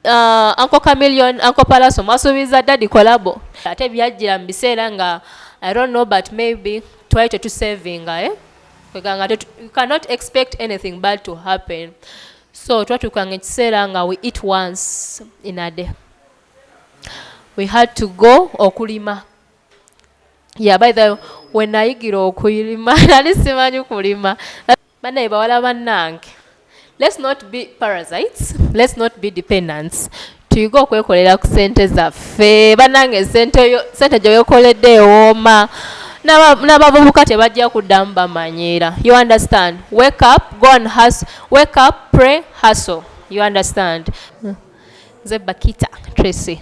Uh, Uncle Chameleon, Uncle Palaso mwasuubiza daddy collabo ate byajjira mu biseera nga I don't know but maybe twali tetusavinga eh? kweganga you cannot expect anything bad to happen so twatuukanga ekiseera nga we eat once in a day we had to go okulima yeah by the when nayigira okulima nali simanyi kulima banaye bawala banange let's not be parasites let's not be dependents tuyige okwekolera ku sente zaffe banange sente sente gyewekoledde ewooma n'abavubuka tebajja kuddamu bamanyiira you understand wake up go and hustle wake up pray hustle you understand mm. Nze Bakita Tracy.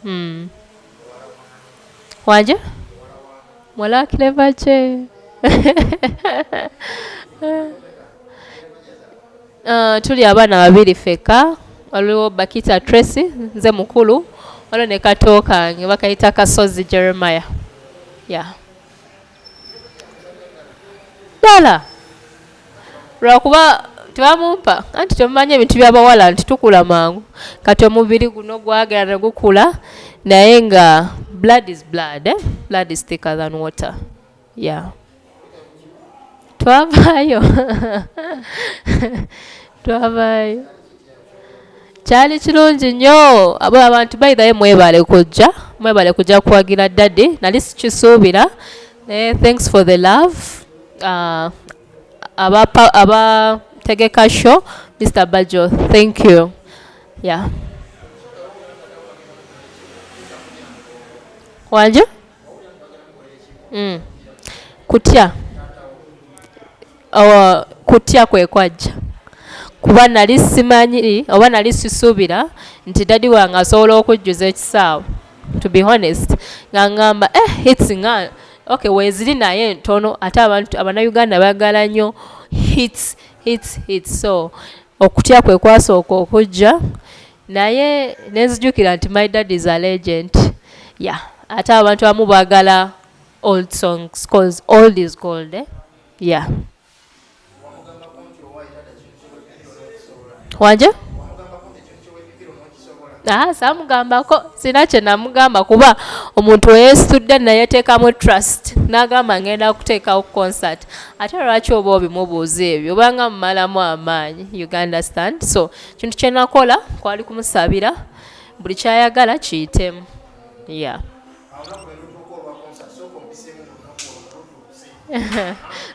Hmm. Waje? Mwala kileva che. Uh, tuli abaana babiri feka waliwo Bakita Tracy nze mukulu waliwo ne kato kange bakayita Kasozi Jeremiah yeah. ddala lwakuba tebamumpa anti temumanyi ebintu byabawala nti tukula mangu kati omubiri guno gwagera ne gukula naye nga blood is blood eh? blood is thicker than water yeah twavaayo twavaayo kyali kirungi nnyo abo abantu bayidhayo mwebale kujja mwebale kujja kuwagira dadi nali sikisuubira naye thanks for the love uh, abategeka show mr bajo thank you yeah wanjo mm. kutya oh, kutya kwekwajja kuba nali simanyi oba nali sisuubira nti dadi wange asobola okujjuza ekisaawe to be honest nga ngamba eh hits nga okay weziri naye ntono ate abantu abanauganda bagala nnyo hits hits hits so okutya kwe kwasooka okujja naye nenzijukira nti my dad is a legend ya yeah. ate abantu abamu bagala old songs cause old is gold eh? yeah wanje ah, samugambako sina kyenamugamba kuba omuntu weyesitudde nayeteekamu trust nagamba ngenda kuteekawo concert ate lwaki oba obimubuuza ebyo obanga mumalamu amaanyi you understand so kintu kyenakola kwali kumusabira buli kyayagala kiyitemu ya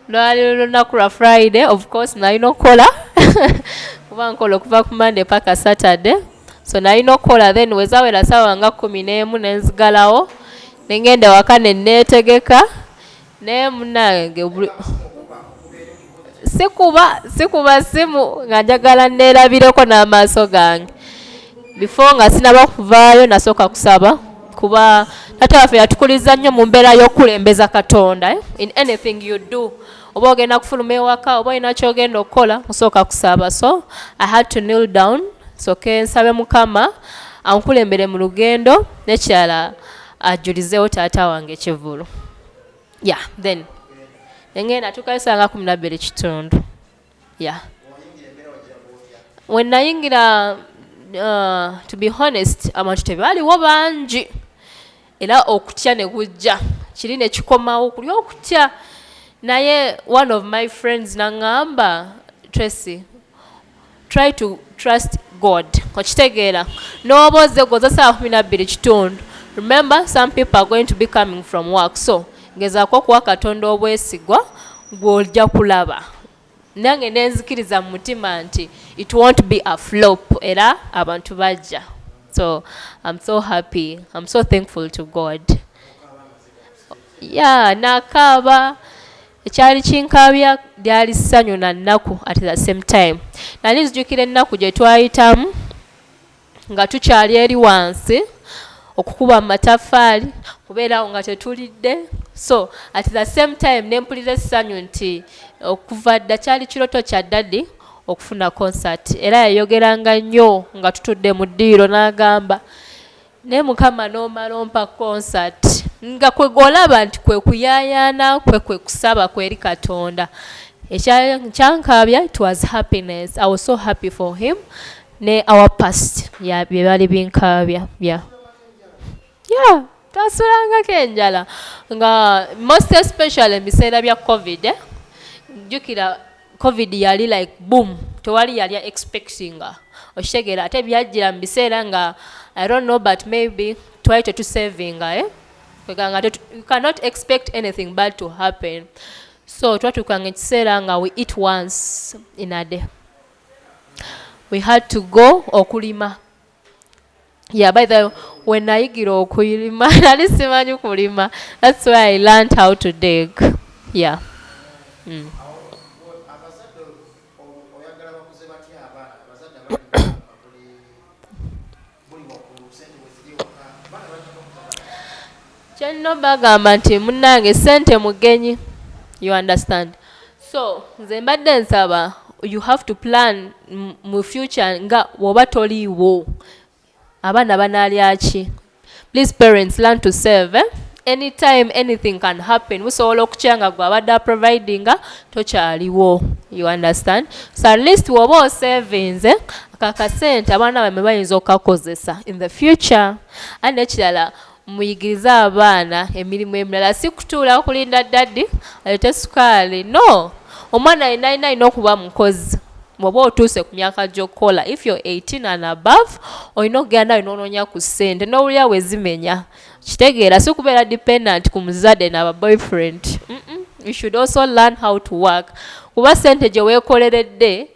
lwali lunaku lwa friday of course nalina okukola kuba nkola okuva ku monday paka saturday so nalina okukola then wezawera sawa nga kumi n'emu nenzigalawo nengenda waka neneetegeka naye munange sikuba sikuba simu nga njagala neerabireko n'amaaso gange bifo nga sinaba kuvaayo nasooka kusaba kuba tata waffe yatukuliza nnyo mu mbeera y'okukulembeza katonda eh? in anything you do oba ogenda kufuluma ewaka oba olina kyogenda okukola osooka kusaba so i had to kneel down soke nsabe mukama ankulembere mu lugendo nekirala ajulizewo taata wange kivulu ya then enge natukayo saa nga kumi nabbiri kitundu ya we nayingira uh, to be honest abantu tebaaliwo bangi era okutya ne kujja kiri ne kikomawo kuli okutya naye one of my friends naŋŋamba tracy try to trust god okitegeera nooba ozze gwoza saawa kumi nabbiri kitundu remember some people are going to be coming from work so ngezaako okuwa katonda obwesigwa gw'ojja kulaba nange nenzikiriza mu mutima nti it won't be a flop era abantu bajja so im so happy im so thankful to god ya yeah, nakaaba ekyali kinkaabya lyali ssanyu na nnaku at the same time nali nzijukira ennaku gye twayitamu nga tukyali eri wansi okukuba mu mataffaali kubeerawo nga tetulidde so at the same time ne mpulira essanyu nti okuva dda kyali kiroto kya dadi okufuna concert era yayogeranga nnyo nga tutudde mu ddiiro n'agamba naye mukama nomala ompa concert nga kwegwolaba nti kwekuyayana kwe kwekusaba kweri katonda ekyankaabya it was happiness i was so happy for him ne our past ya byebali binkaabya bya yeah twasulangako enjala nga most especially ebiseera bya covid eh? jjukira covid yali like boom tewali yali expectinga okitegeera ate byajjira mu biseera nga i don't know but maybe twali tetusavinga eh? kweganga you cannot expect anything bad to happen so twatuukanga ekiseera nga we eat once in a day we had to go okulima yeah by the when nayigira okulima nali simanyi kulima that's why i learned how to dig yeah mm. Kyenno bagamba nti munange sente mugenyi you understand so nze mbadde nsaba you have to plan mu future nga woba toliiwo abaana banalyaki please parents learn to save eh? anytime anything can happen musobola okukyanga gwe abadde aprovidinga tokyaliwo you understand so at least woba osavinze eh? kakasente abaana bamwe bayinza okukakozesa in the future and ekirala Muyigirize abaana emirimu emirala si kutuula kulinda ddadi aleete sukaali no omwana yenna alina alina okuba mukozi bwoba otuuse ku myaka gy'okukola if you're 18 and above olina okugera nawe nononya ku ssente n'owulira wezimenya kitegeera si kubeera dependent ku muzadde naba boyfriend mm -mm. you should also learn how to work kuba ssente gye weekoleredde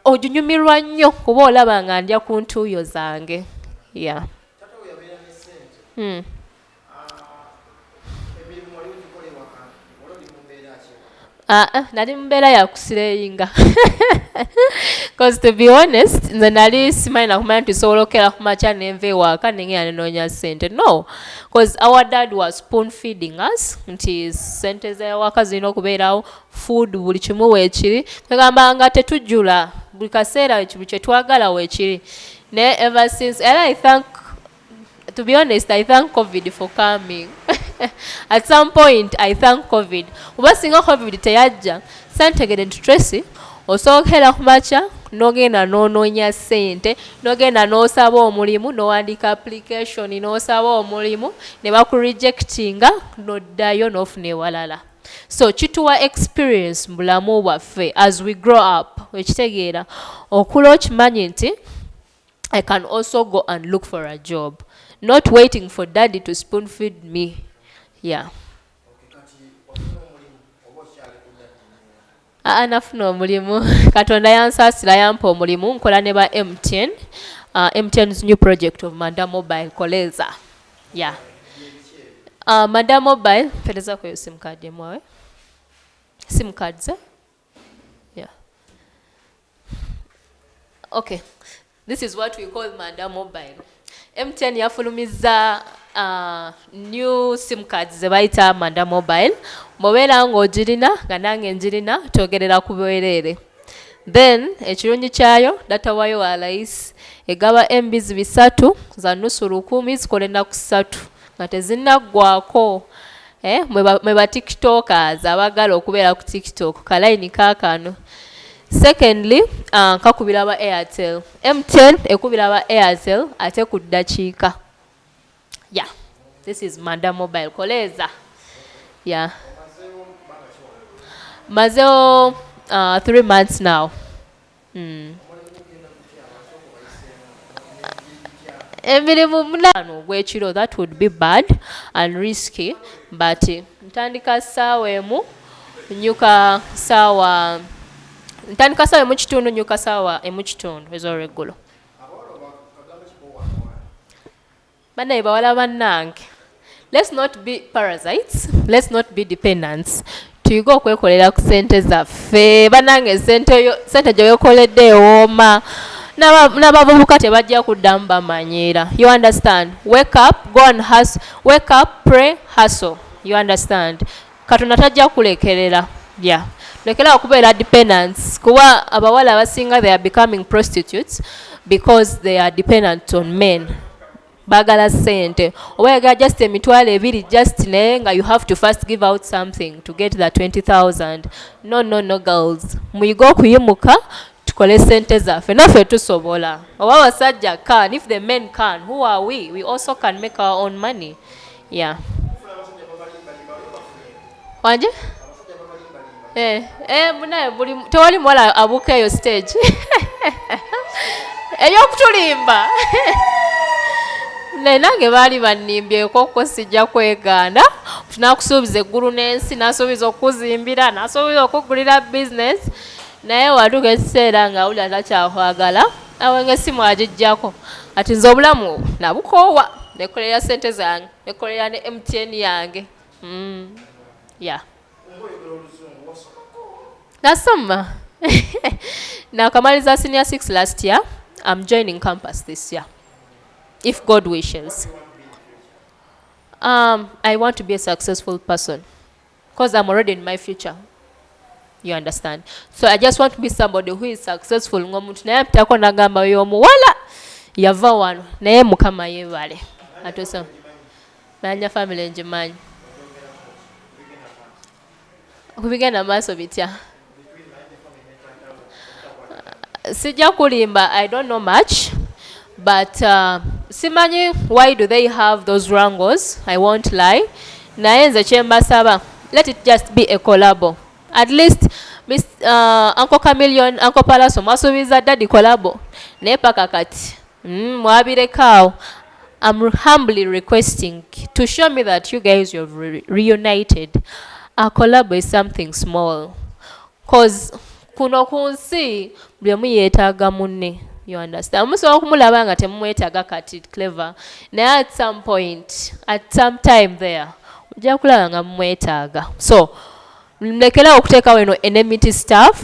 oginyumirwa nnyo kuba olaba nga ndya ku ntuuyo zange ya yeah. Hmm. Ah, ah, nali mu mbeera ya kusireyinga bcause to be honest nze nali simanyi nakumanya nti sobola okukera ku makya nenva ewaaka nengenda nenoonya sente no bcause our dad was spoon feeding us nti sente zewaka zirina okubeerawo food buli kimu weekiri kwegamba nga tetujjula buli kaseera buli kyetwagala weekiri naye ever since and i thank to be honest i thank covid for coming at some point i thank covid oba singa covid teyajja santegere nti tracy osookera ku makya nogenda nononya sente nogenda nosaba omulimu nowandika application nosaba omulimu nebakurejectinga noddayo nofuna ewalala so kituwa experience mu bulamu bwaffe as we grow up ekitegeera okula okimanyi nti i can also go and look for a job not waiting for daddy to spoon feed me yeah aa nafuna omulimu katonda yansaasira yampa omulimu nkola ne ba mtn uh, ah, mtn's new project of manda mobile koleza ya yeah. uh, manda mobile pereza kweyo simukadi emwawe simukadi ze okay this is what we call manda mobile mtn yafulumizza uh, new sim card ze bayita manda mobile mubeera ng'ogirina nga nange njirina twogerera ku bwereere then ekirungi kyayo data wayo wa layisi egaba embizi bisatu za nusu lukumi zikola ennaku ssatu nga tezinnaggwako eh, mwe ba tiktokers abagala okubeera ku tiktok kalayini kakano secondly uh, kakubira ba airtel mtn ekubira ba airtel ate ku ddakiika yeah this is manda mobile koleeza yeah mazewo uh, three months now emirimu munaana ogw'ekiro that would be bad and risky but ntandika ssaawa emu nyuka ssaawa ntandika ssaawa emu kitundu nyuka ssaawa emu kitundu ez'olweggulo banaye bawala banange let's not be parasites let's not be dependents tuyige okwekolera ku sente zaffe banange sente gyewekoledde ewooma n'abavubuka tebajja kuddamu bamanyiira you understand wake up go and hustle wake up pray hustle you understand Katonda tajja kulekerera yeah. lekera okubeera dependence kuba abawala abasinga they are becoming prostitutes because they are dependent on men bagala sente oba yagala just emitwalo ebiri just naye nga you have to first give out something to get the 20000 no no no girls muyige okuyimuka tukole sente zaffe naffe tusobola oba abasajja can if the men can who are we we also can make our own money yeah. wanje eh, eh, munaye buli tewali muwala abuuka eyo stage eyokutulimba naye nange baali bannimbyeko ko sijja kwegaana tunakusuubiza eggulu n'ensi nasuubiza okukuzimbira nasuubiza okukugulira bizinesi naye watuuka ekiseera nga awulira takyakwagala awenge esimu agijjako ati nze obulamu obwo nabukoowa nekolera sente zange nekolera ne mtn yange mm. ya nasoma nakamaliza senior six last year am joining campus this year if god wishes um, i want to be a successful person Cause I'm already in my future. You understand? So I just want to be somebody who is successful ngomuntu naye apitako nagamba yo omuwala yava wano naye mukama yebale atosa nanya family njimanyi kubigenda maaso bitya sijja kulimba i don't know much but uh, simanyi why do they have those wrangles i won't lie naye nze kyembasaba let it just be a collabo at least Miss, uh, uncle camillion uncle palaso mwasuubiza daddy collabo naye paka kati Mm, mwabirekaawo I'm humbly requesting to show me that you guys you have re reunited. A collab is something small. Cause kuno ku nsi buli omu yeetaaga munne you understand musobola okumulaba nga temumwetaaga kati clever naye at some point at some time there ojja kulaba nga mumwetaaga so mlekerawo okuteekawo eno enemity staff